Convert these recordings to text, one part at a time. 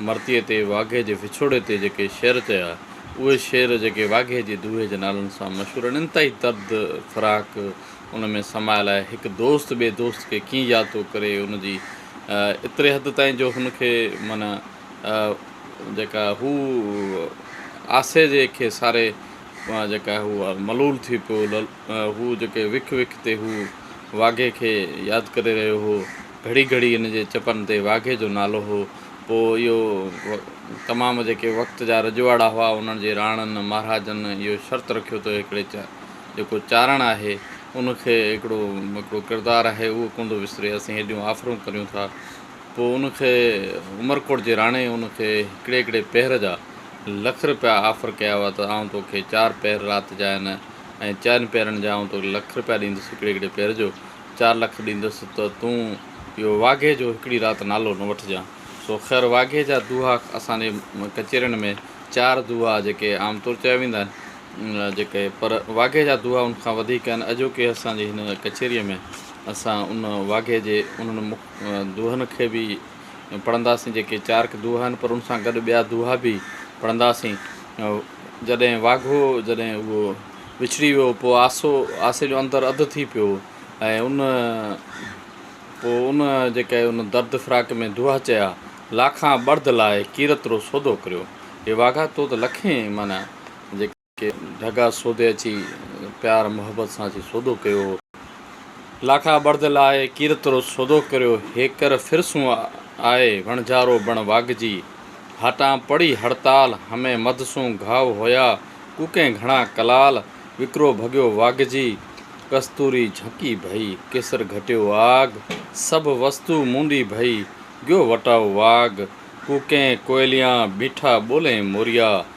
مرثيي تي واگهي جي وڇوڙي تي جيڪي شعر چيا، اهي شعر جيڪي واگهي جي دوهي جي نالن سان مشهور آهن، انتهائي درد فراق ان ۾ سمايل آهي. هڪ دوست ٻئي دوست کي ڪيئن ياد ٿو ڪري، ان جي ايتري حد تائين جو هن کي معنيٰ جيڪا هو آسي جي کي ساري جيڪا هو ملول ٿي پيو، هو جيڪي وک وک تي هو واگهي کي ياد ڪري رهيو هو، گهڙي گهڙي هن جي چپن تي واگهي جو نالو هو. پوء اهو تمام جيڪي وقت جا رجواڙا هئا، انهن جي راڻن مهاراجن اهو شرط رکيو ته هڪڙي جيڪو چارڻ آهي، ان کي هڪڙو هڪڙو ڪردار آهي، اهو ڪونه ٿو وسري، اسين هيڏيون آفرون ڪريون ٿا. پوء ان کي عمرڪوٽ جي راڻي ان کي هڪڙي هڪڙي پهر جا لک رپيا آفر ڪيا هئا ته آئون تو کي چار پهر رات جا ۽ چئن پهرن جا آئون تو کي لک رپيا ڏيندس هڪڙي هڪڙي پهر جو چار لک ڏيندس ته تون اهو واگهي جو هڪڙي رات نالو نه وٺجان سو خير واگهي جا دوها اسان جي ڪچهرين ۾ چار دوها جيڪي عام طور چيا ويندا آهن جيڪي پر واگهي جا دوها ان کان وڌيڪ آهن اڄوڪي اسان جي هن ڪچهري ۾ اسان ان واگهي جي انهن دوهن کي به پڙهنداسين جيڪي چارڪ دوها آهن پر ان سان گڏ ٻيا دوها به پڙهنداسين جڏهن واگهو جڏهن اهو وڇڙي ويو پوء آسو آسي جو اندر اڌ ٿي پيو ۽ ان پوء ان جيڪي ان درد فراق ۾ دوها چيا لاکان ٻڙد لاء ڪيرترو سودو ڪريو اي واگها تو ته لکين معنيٰ جيڪي ڪي ڍڳا سودي اچي پيار محبت سان اچي سودو ڪيو. لاکا بڙد لاء ڪيرت رو سودو ڪريو هيڪر ڦر سون آء وڻجارو بڻ واڳجي هاٽان پڙي هڙتال همه مڌ سون گهاء هويا ڪوڪين گهڻا ڪلال وڪرو ڀڳيو واڳجي ڪستوري جهڪي ڀئي ڪيسر گهٽيو آڳ سڀ وستو مونڊي ڀئي گيو وٽاء واڳ ڪوڪين ڪوئليان بيٺا ٻولين موريا.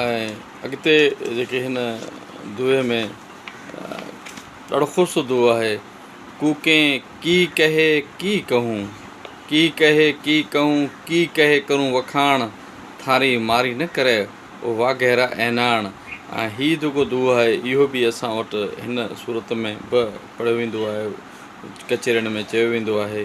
۽ اڳتي جيڪي هن دوهي ۾ ڏاڍو خوبصورت دوهو آهي ڪو ڪين ڪي ڪهي ڪي ڪهون ڪي ڪهي ڪي ڪهون ڪي ڪهي ڪرون وکاڻ ٿاري ماري نه ڪري او واگهيرا ايناڻ ۽ هي جيڪو دوهو آهي اهو به اسان وٽ هن صورت ۾ به پڙهيو ويندو آهي ڪچهرين ۾ چيو ويندو آهي